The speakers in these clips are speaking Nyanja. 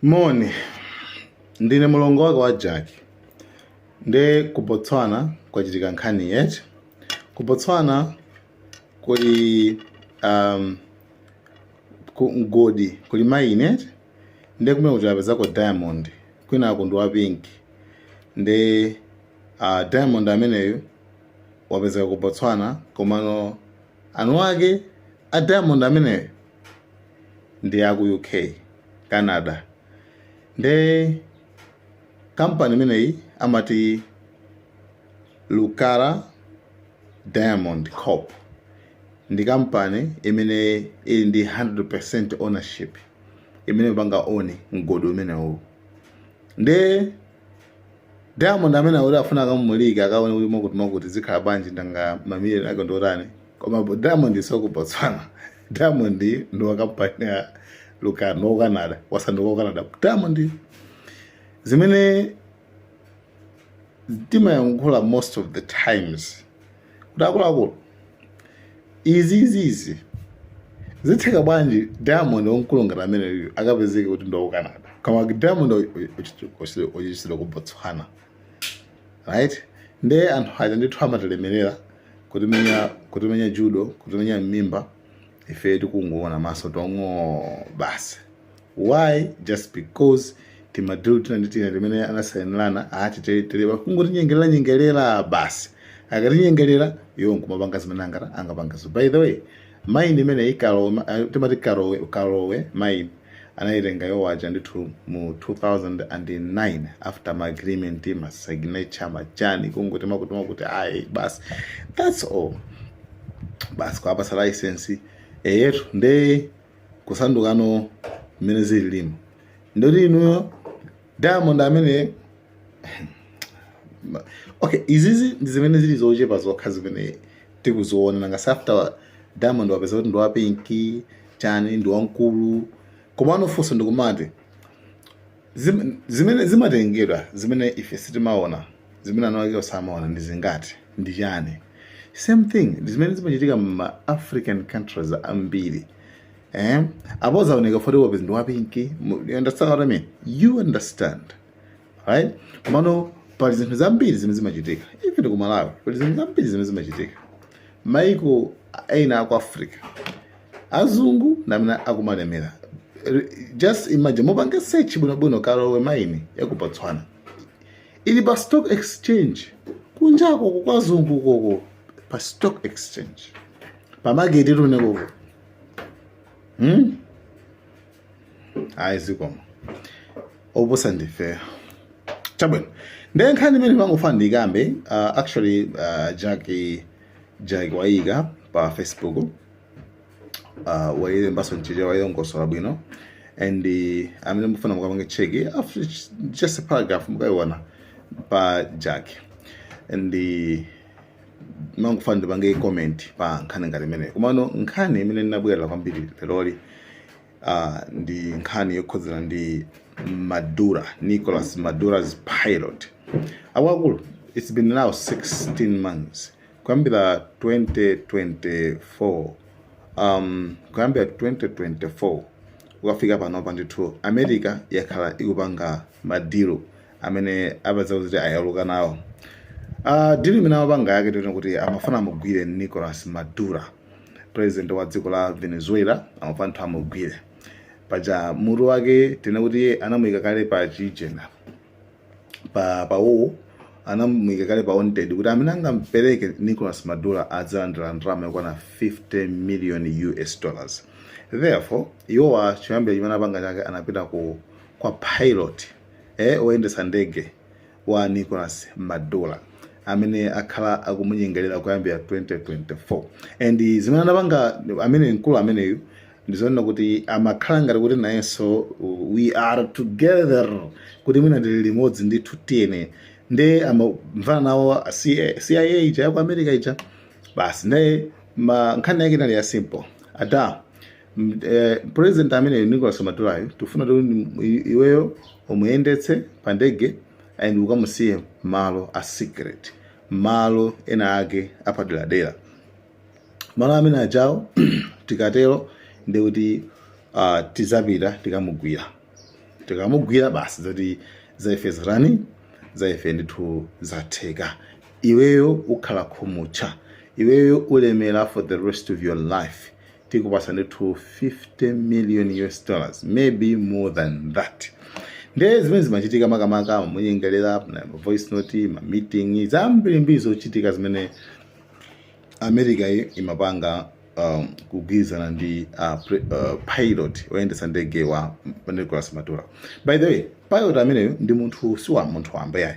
Moni, ndine mlongo wake wa Jack. Nde ku Botswana kwachitika nkhani eti. Ku Botswana kuli um, ku mgodi kuli mine eti nde kumene kuti apezako diamond wina wake ndi wa pink nde uh, diamond ameneyo wapezeka ku Botswana komano eni ake a diamond ameneyo ndi a ku UK, Canada. Nde kampani imeneyi amati Lucara Diamond Corp ndi kampani imene ili ndi 100% ownership imene imapanga own mgodi umenewu. Nde diamond amene akuti afuna akamumulike akaone kuti mwakuti mwakuti zikhala bwanji nanga mamiliyoni ake ndiotani koma bo- diamond si wa ku botswana diamond ndi wa kampani ya lucara wa ku canada wasanduka wa ku canada diamond zimene timayankhula most of the times kuti akuluakulu izi izi izi zitheka bwanji diamond wamkulu ngati ameneyu akapezeke kuti ndi wa ku canada koma diamond ochichitira ku botswana right nde anthu aja ndithu amatilemerera kutimenya judo kutimenya mmimba ife tikungoona maso tong'o basi why just because timadilu tina ndi tina timene anasainirana ati telewa kungotinyengerera nyengerera basi akatinyengerera iwo nkumapanga zimene angathe angapange so by the way maini imeneyi kalowe eh, timati kalowe kalowe maini anayitenga iwo aja ndithu mu 2009 after ma agreement ma signature machani kungoti mwakuti mwakuti ayi basi that's all basi kuwapasa license eyetu nde kusandukano mmene zili limo ndikuti inuyo diamond amene okay izizi ndi zimene zili zochepa zokha zimene tikuziona nanga after diamond wapeza kuti ndi wa pinki chani ndi wamkulu komano funso ndikumati Zim, zimene zimatengedwa zimene ife sitimaona zimene eni ake osamaona ndi zingati ndi chani same thing ndi zimene zimachitika mma african countries ambiri eh? apo uzaoneka foti wapezi ndi wapinki mu- you understand what I mean? you understand right komano pali zinthu zambiri zimene zimachitika even ku malawi pali zinthu zambiri zimene zimachitika maiko ena aku africa azungu namene akumalemera R- just imagine mupange search bwinobwino karowe maini yakubotswana ili pa stock exchange kunjako kukwazungu koko pa stock exchange pamaketi tu ndi koko hmm? ayi zikomo opusa ndifeyo chabwino nde nkhani imene mangofuna ndikambe uh, actually uh, jaki jaki waika pa facebook uh, wayilembaso mchichewa wayilongosola bwino and uh, amene mukufuna mukapange cheki after ch- just a paragraph mukayiona pa jack and uh, mangofuna ndipange comment pa nkhani ngati imene komano nkhani imene ndinabwerera kwambiri leroli uh, ndi nkhani yokhudzana ndi maduro nicholas maduro's pilot awakulu it's been now 16 months Kuyambira 2024 um, kuyambira 2024 kukafika panopa ndithu america yakhala ikupanga madilu amene apeza kuti ayaluka nawo uh, dilu imene amapanga yake tinene kuti amafuna amugwire nicolas maduro president wa dziko la venezuela amafuna ndithu amugwire paja mutu wake tinene kuti anamuyika kale pa chijena pa pa uwu anamuyika kale pa wanted kuti amene angampereke Nicolas Maduro adzalandira ndalama yokwana 50 million US dollars therefore iwowa choyambira chimene apanga chake anapita ku kwa pilot eh oyendetsa ndege wa Nicolas Maduro amene akhala akumunyengerera kuyambira 2024 and zimene anapanga amene mkulu ameneyu ndizonena kuti amakhala ngati kuti nayenso we are together kuti mwina ndili limodzi ndithu tiyene nde amamvana nawo cia ija yaku america ija basi nde nkhani yake inali ya simple ada eh, president ameneyo nicolas maduroyo tifuna kuti iweyo umuyendetse pa ndege and ukamusiye malo a secret malo ena ake apaderadera malo amene ajawo tikatero ndi kuti uh, tizapita tikamugwira tikamugwira basi zoti za ife zitani za ife ndithu zatheka iweyo ukhala khumutcha iweyo ulemera for the rest of your life tikupasa ndithu 50 million us dollars maybe more than that nde zimene zimachitika makamaka amamunyengerera voice note ma meeting zambirimbiri zochitika zimene america yi imapanga um, kugwirizana ndi uh, pre, uh, pilot oyendetsa ndege wa nicolas maduro by the way pilot ameneyo ndi munthu si wa munthu wamba yayi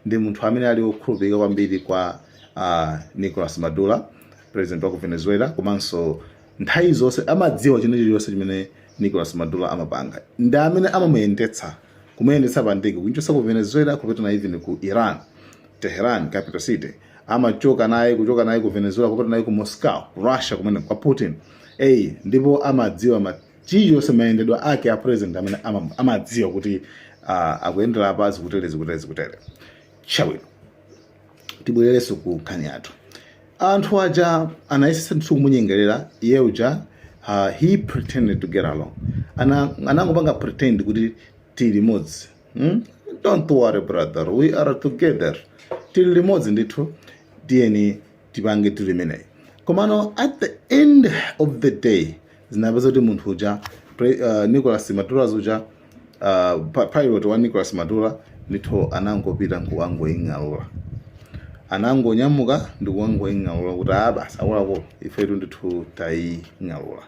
ndi munthu amene ali wokhulupirika kwambiri kwa uh, nicolas maduro president wa ku venezuela komanso nthawi zonse amadziwa china chilichonse chimene nicolas maduro amapanga ndi amene amamuyendetsa kumuyendetsa pa ndege kuchotsa ku venezuela kupita naye even ku iran tehran capital city amachoka naye kuchoka naye ku Venezuela kupita naye ku Moscow ku Russia kumene kwa Putin eyi ndipo amadziwa chilichonse mayendedwa ake a president amene ama- amadziwa kuti ah, akuyendera apa zikutere zikutere zikutere chabwino tibwererenso ku nkhani yathu anthu aja anayesesa ndithu kumunyengerera iye uja uh, he pretended to get along Ana- anangopanga pretend kuti tili limodzi hmm? don't worry brother we are together tili limodzi ndithu tiyeni tipange tili imeneyi komano at the end of the day zinapeza kuti munthu uja uh, nicolas maduro uja uh, pilot wa nicolas maduro ndithu anangopita nkukangoing'alula anangonyamuka ndi kukangoing'alula kuti a ah, basi akuluakulu ifetu ndithu taing'alula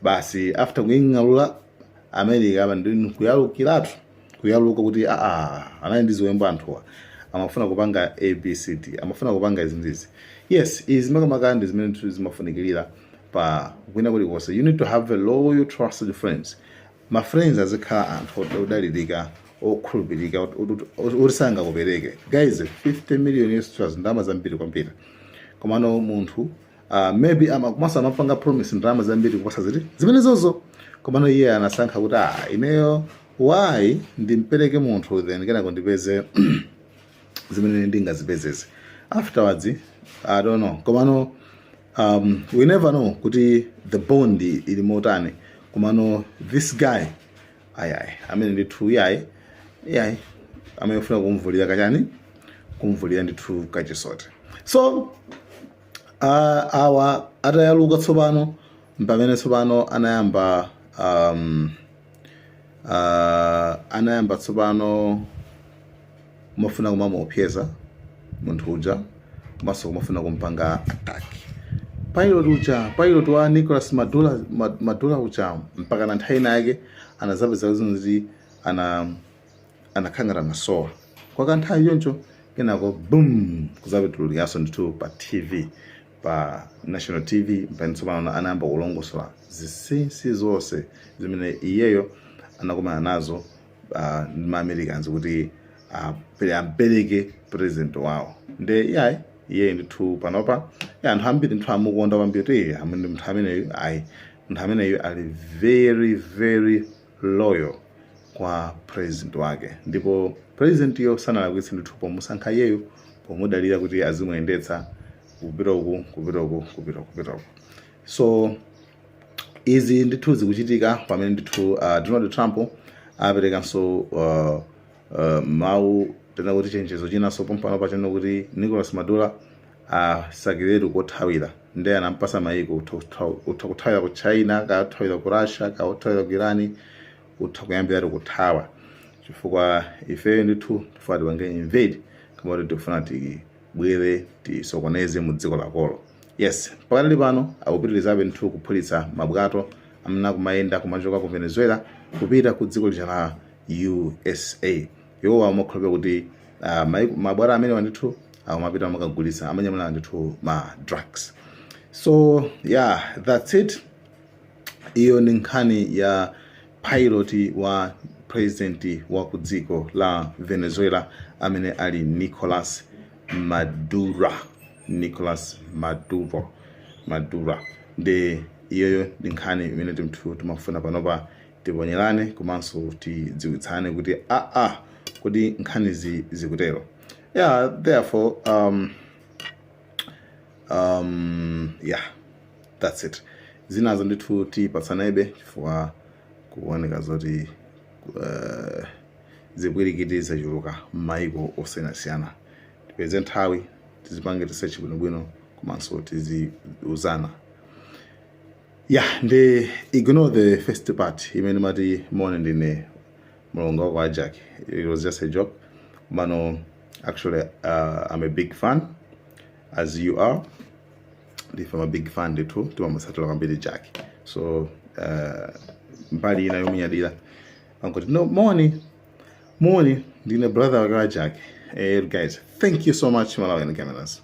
basi after kuing'alula america apa ndi kuyalukiratu kuyaluka kuti aa anali ndi ziwembu anthuwa amafuna kupanga abcd amafuna kupanga izi ndizi yes izi makamaka ndi zimene zimafunikirira pa kwina kulikonse you need to have a loyal trusted friends ma friends azikhala anthu od- odalirika okhulupirika ot- ot- ot- oti sangakupereke guys 50 million us dollars ndalama zambiri kwambiri komano munthu Uh, maybe komanso amampanga promise ndalama zambiri kuposa ziti zimenezozo komano iye anasankha kuti ah ineyo why ndimpereke munthu then kenako ndipeze zimene ndingazipezeze afterwards i don't know komano um, we never know kuti the bond ili motani komano this guy ayayi amene ndithu iyayi iyayi amene ofuna kumvulira kachani kumvulira ndithu kachisote so Ah, awa atayaluka tsopano mpamene tsopano anayamba um, ah, anayamba tsopano kumafuna kumamuopseza munthu uja komanso kumafuna kumpanga attack pilot uja pilot wa nicolas maduro, Ma- maduro uja mpaka na nthawi inayake anazapeza kuti ana anakhala ngati anasowa kwa kanthawi choncho kenako boom kuzabitulukanso ndithu pa tv pa national tv mpamene tsopano anayamba kulongosola zisinsi zonse zimene iyeyo anakumana nazo uh, ndi ma Americans kuti uh, ampereke president wawo nde iyayi iyeyi ndithu panopa ya anthu ambiri ndithu amukonda kwambiri kuti amene munthu ameneyu ayi munthu ameneyu ali very very loyal kwa president wake ndipo president yo sanalakwitse ndithu pomusankha iyeyu pomudalira kuti azimuyendetsa kupita uku kupita uku kupita kupita uku so izi ndithu zikuchitika pamene ndithu uh, donald trump aperekanso uh, uh, mawu kapena kuti chenjezo chinanso pompano pachano kuti nicolas maduro asakiretu kothawira nde anampasa mayiko utha kutha- utha kuthawira ku china kathawira ku russia kathawira ku iran utha kuyambiratu kuthawa chifukwa ifeyo ndithu tifuna tipange invade kama kuti tikufuna tibwere tisokoneze mu dziko lakolo yes mpakana pano akupitirizabe ndithu kuphulitsa mabwato amene akumayenda kumachoka ku venezuela kupita ku dziko lija la usa Iwowa amakhulupirira kuti ah, mai- mabwato amenewa ndithu amapita amakagulitsa amanyamula ndithu ma drugs so yeah that's it iyo ndi nkhani ya pilot wa president wa ku dziko la venezuela amene ali nicolas maduro nicolas maduro maduro nde iyoyo ndi nkhani imene ndithu timafuna panopa tiponyerane komanso tidziwitsane kuti aa kodi nkhanizi zikutero yeah therefore um, um, yeah that's it zinazo ndithu tipatsanebe chifukwa kuoneka zoti uh, zipwirikiti zachuluka m'mayiko osiyanasiyana tipeze nthawi tizipange research bwinobwino komanso tiziuzana ya ndi ignore the first part imene mati mone ndine mulongo wako ajak it was just a joke mano actually uh, i'm a big fan as you are ndife ma big fan ndithu timamusatira kwambiri jack so uh, mbali ina yomunyadira angoti no moni moni ndine brother wake wa jack eh, guys thank you so much malawian cameras